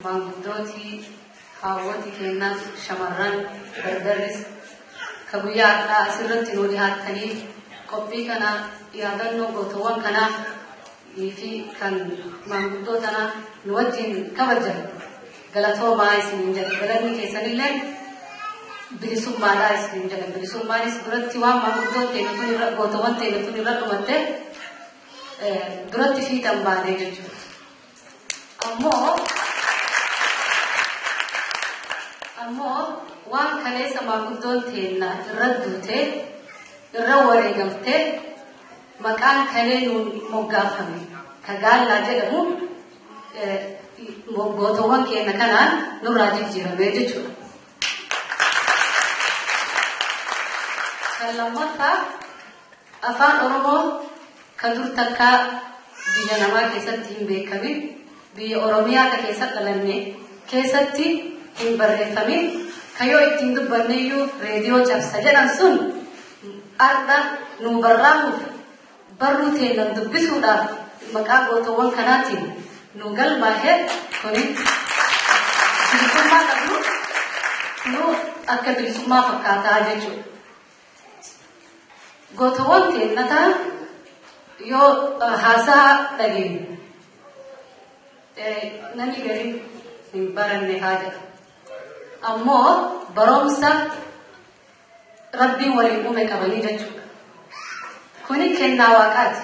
Maanguddooti, haawwoti keenna shamarran, dardarris ka guyyaa har'aa as irratti nuu dhihaattanii qophii kana yaadannoo gootowwan kanaa fi kan maanguddoo tanaa nu wajjin kabajan galatoomaa isiniin jedha. Galanni keessanillee bilisummaadhaa isiniin jedha. Bilisummaanis duratti waan maanguddoo teenya tun irra gootowwan teenya tun irra dhumatte eh, duratti fiixan baanee jechuudha. Ammoo ammoo waan kaleessa maanguddoon teenna irra duute irra wareegamte maqaan kalee nuun moggaafame ka gaallaa jedhamu eh, gootowwan keenya kanaan nurraa jijjiiramee jechuudha. Kan lammaffaa Afaan Oromoo ka dur takkaa biyya namaa keessatti hin beekamin, biyya Oromiyaa ka keessa dhalanne keessatti hin barreeffamin, ka yoo itti hin dubbanneyyuu reediyoo cabsa jedhan sun har'a nuu barraahuuf barruu teennan dubbisuudhaaf maqaa gootowwan kanaatiin nuu galmaahe kuni bilisummaa qabnu nuu akka bilisummaa fakkaataa jechuudha. Gootowwan keenya ta'an yoo haasaa dhageenyu namni gariin hin baranne haa jedha. Ammoo barumsa rabbiin waliin uume qabanii jechuudha. Kuni kennaa waaqaati.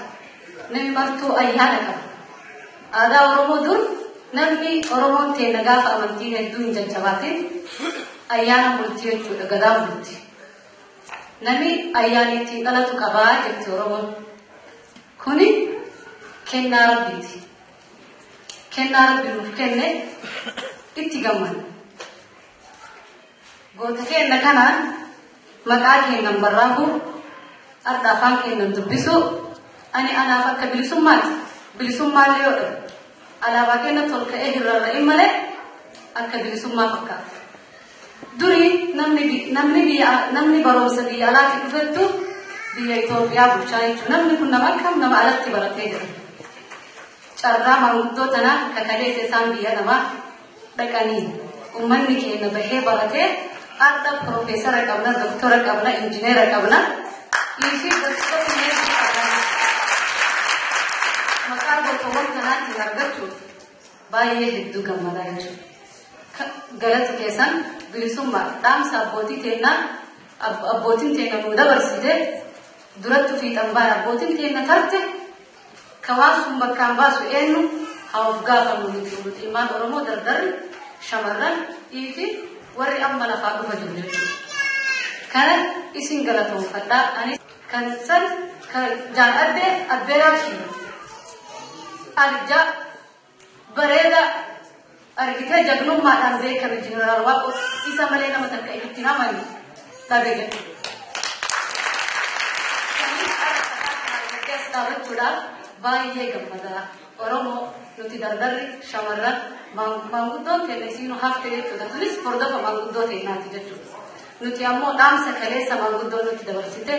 Namni martuu ayyaana qaba. Aadaa Oromoo dur namni Oromoon keenya gaafa amantii hedduu hin jajjabaatiin ayyaana bultii jechuudha gadaa bultii. Nami ayyaanii ittiin dhalatu qaba jetti Oromoon. Kuni kennaa rabbiiti. Kennaa rabbi nuuf kenne itti gammanna. Goota keenna kanaan maqaa keennan barraaquu, har'a afaan keennan dubbisuu, ani anaaf akka bilisummaati. Bilisummaa illee yoo dhabe, alaabaa keenna tolka'ee hin rarra'in malee akka bilisummaa fakkaata. Duri namni bi- namni biyya namni barumsa biyya alaatti dhufettu biyya Itoophiyaa bulchaa jechuudha. Namni kun nama akkam nama alatti baratee jira. Carraa maanguddoo tanaa kakalee keessaan biyya namaa dhaqanii uummanni keenya bahee baratee har'a piroofeesara qabna, doktora qabna, injineera qabna. Dhiisii gosoota meeshaa qabna. Maqaa gosoowwan kanaatiin argachuuf Baay'ee hedduu gammadaa jechuudha. Galati keessan bilisummaa dhaamsa abbootii teennaa abbootiin teenna nuu dabarsite duratti fiixan baana abbootiin teenna tarte ka waan sun bakkaan baasu eenyu haa of gaafannu nuti nuti ilmaan Oromoo dardarri shamarran dhiifi warri amma lafaa dhufa jiru jechuudha. Kana isin galatoomfadhaa ani kan san kan jaan addee abbeeraa kiyya. Arjaa bareeda argitee jagnummaadhaan beekame jeneraal waaqo isa malee nama takka itti hamani dhabe jedhe. dhaabachuudhaaf baay'ee gammadaa oromoo nuti dardarri shamarran maanguddoon keenya isiinu hafte jechuudha tunis hordofa maanguddoo keenyaati jechuudha nuti ammoo dhaamsa kaleessa maanguddoo nutti dabarsite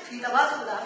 fiixa baasuudhaaf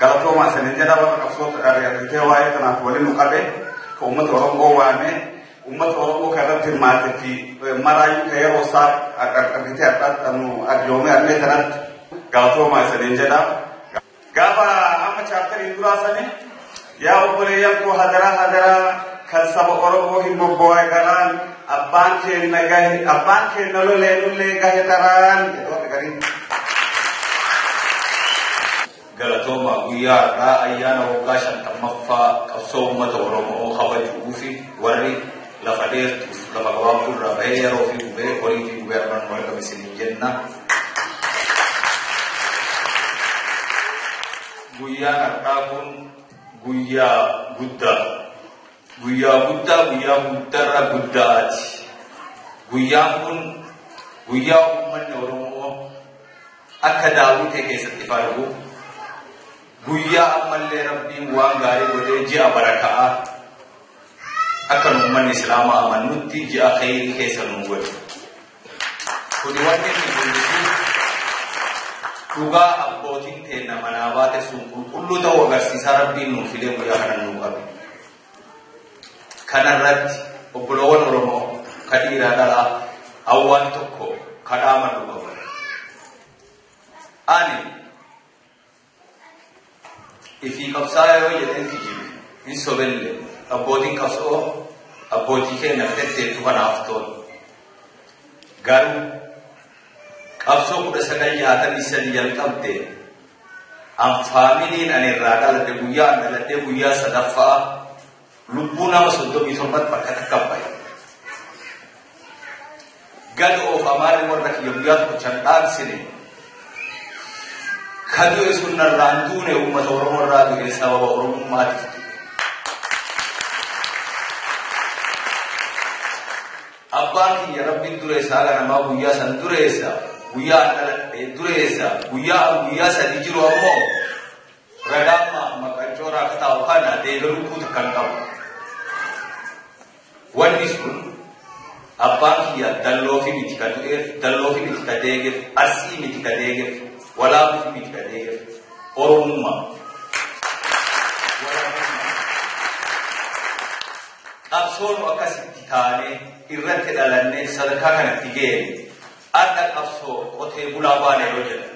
galatoomaa isinin jedha warra qabsoo ari'atee waa'ee kanaaf waliin nu qabe ka uummata Oromoo waamee uummata Oromoo kan irratti hirmaatetti maraayyuu ka yeroo isaa argitee addaatti nu arjoomee argee kanatti galatoomaa isinin jedha. Gaafa amma chaaptariin duraa sani yaa obboleeyyan koo hadaraa hadaraa kan saba Oromoo hin bobboo'e garaan abbaan keenna gahe abbaan keenna lolee lullee gahe taraan jedhoota gariin. Galatooma guyyaa har'aa ayyaana waggaa shantammaffaa qabsoo uummata Oromoo kabajuu fi warri Lafa dheertuuf lafa gabaabduu irraa bahee yeroo fi gubee horii fi gubee armaan nu argame isiniin jenna. Guyyaan har'aa kun guyyaa guddaa. Guyyaa guddaa guyyaa guddaarra guddaati. Guyyaan kun guyyaa uummanni Oromoo akka daawwitee keessatti faargu. Guyyaa ammallee rabbiin waan gaarii godhee ji'a baraka'aa. Akka nu ummanni Islaamaa amannutti ji'a kheyrii keessa nu godhi. Kuni wanni inni mul'isu dhugaa abbootiin teenna manaa baate sun qulqulluu ta'uu agarsiisaa Rabbiin nuuf fidee guyyaa kana nuu qabe. Kanarratti obboloowwan Oromoo ka dhiiraa dhalaa hawwaan tokko kadhaa madhu qabu. Ani Ifii qabsaa'aa yoo jedheen kijibe hin sobelle abbootiin qabsoo abbootii keenyaaf tetteettu kanaaf tola. Garuu qabsoo kudha sagal jaatamii sadi jalqabde an faamiliin ani irraa dhaladhe guyyaa an dhaladhee guyyaa sadaffaa Lubbuu nama 37 bakka takka bahe. Gad oofamaan warra kiyya guyyaa tokko chan dhaansine. Ka du'e sun narraan duune uummata Oromoo irraa du'e sababa Oromummaatiif du'e. Abbaan kiyya rabbiin dureessaa ganamaa guyyaa san dureessa. Guyyaa an dhaladhe dureessa. Guyyaa an guyyaa sadii jiru ammoo Ragaan maaf maqaan coora akka taa'u kana deebii lubbuu takka hin qabu. Wanni sun abbaan kiyya dalloofi miti ka du'eef, dalloofi miti ka deegeef, arsii miti ka deegeef, walaabuufi miti ka deegeef, oromummaa. Qabsoonu akkasitti taanee irratti dhalannee sadarkaa kanatti geenye akka qabsoo qotee bulaa baanee yoo jedhan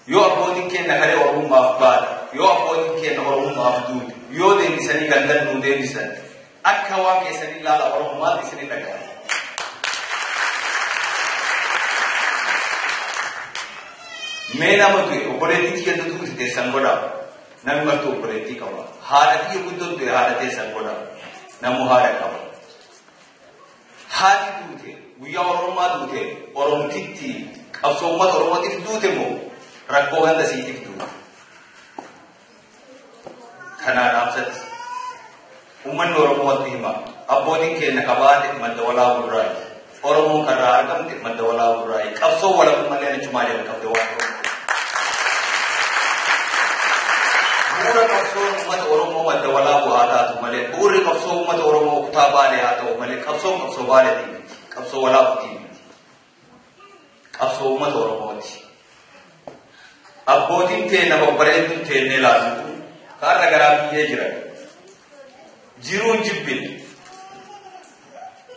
Yoo abbootiin keenna kalee Oromummaaf baate, yoo abbootiin keenna Oromummaaf duute, yoo deebisanii gandan nuu deebisan, akka waan keessanii laala Oromo maalti isini dhaga'ama? Mee nama du'e obboleettii tiyya dutu itti teessan godhaa. Namni martuu obboleettii qaba. Haadha tiyya guddoon du'e haadha teessan godhaa. Namuu haadha qaba. Haati duute guyyaa Oromummaa duute Oromtittii qabsoo uummata Oromootiif duute moo rakkoo ganda siitiif duute? Kanaa dhaamsatti uummanni Oromoo watti hima abbootiin keenya kabaate madda walaa gurraati Oromoon karraa argamte Madda walaa gurraa'e qabsoo walabummallee achumaa jalqabde waan ta'eef. Bu'uura qabsoo uummata Oromoo madda walaa bu'aa taatu malee bu'uurri qabsoo uummata Oromoo kutaa baalee haa ta'u malee qabsoo qabsoo baalee miti. Qabsoo walaa kutii miti. Qabsoo uummata Oromooti. Abbootiin tee nama bareedduun teennee laatu kaarra garaa biyyee jiran. Jiruun jibbin.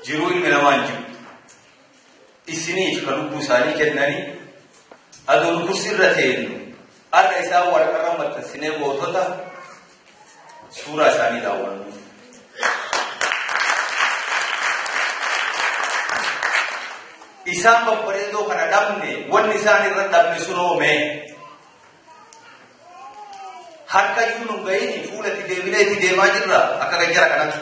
Jiruu ilmi namaan jibbi. isiniif ka lubbuu isaanii kennanii adoo nu kursii irra teenyu har'a isaan waraqarra maxxansinee gootota suuraa isaanii daawwannu. Isaan babbareedoo kana dhabne wanni isaan irra dhabne sunoomee. Harka iyyuu nu ga'iin fuula itti deebinee itti deemaa jirra akka kan jara kanatti.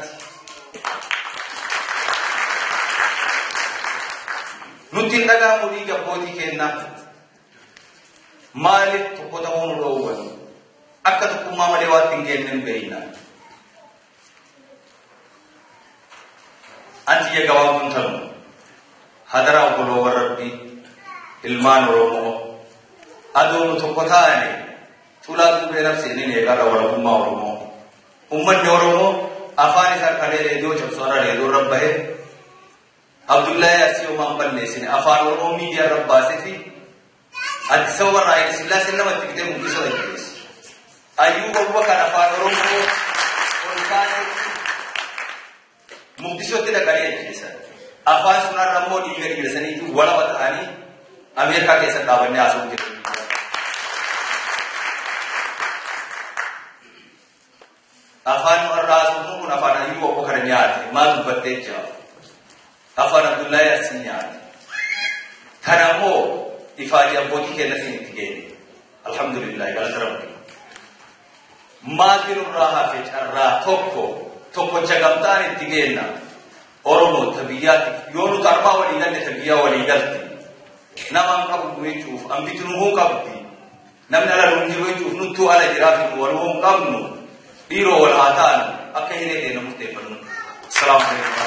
Nutti hin dhaga'amu dhiiga abbootii kennaa. Maaliif tokko ta'uu nu dhoowwan? Akka tokkummaa malee waan hin geenye hin beekna. An tiyya gabaabduun tanu. Hadaraa obboloowwan Rabbii, ilmaan Oromoo, adoo nu tokko taane tulaa tuubee nabsee ni meeqarra walabummaa Oromoo. Ummanni Oromoo afaan isaa kalee reediyoo cabsu har'a reediyoo irra bahee Abdullahi Asiyoo maan balleessine afaan Oromoo miidiyaa irra baasee fi Addis Ababa irraa Hayila Sillaaseen nama itti bitee murtii sana jajjabeesse. Ayyuu wawwa kan afaan Oromoo ol kaasetti Muqdishootti dhaqanii ajjeesan. Afaan sunarra immoo dhiiga dhiigasaniitu walaba ta'anii Ameerikaa keessa dhaabannee haasa'u jiru. Afaan nu har'a haasofnu kun afaan Hayyuu Obbo kana nyaate maal dubbattee jira. Afaan Abdullahi Arsii nyaate. Kana immoo ifaajii abbootii keenyatiin itti geenye. Alhamdulillah galata rabbi. Maatiin irraa hafe carraa tokko tokkocha gamtaan itti geenna. Oromoo ta biyyaatti yoo nuti armaa walii galle ta biyyaa walii galte. Nama hin qabu jechuuf hambiti nu hin qabdi. Namni ala nuun jiru jechuuf nuttuu ala jiraa fi wal hoon qabnu dhiiroo wal haa taanu akka hiree teena murteeffannu. Salaamu alaikum.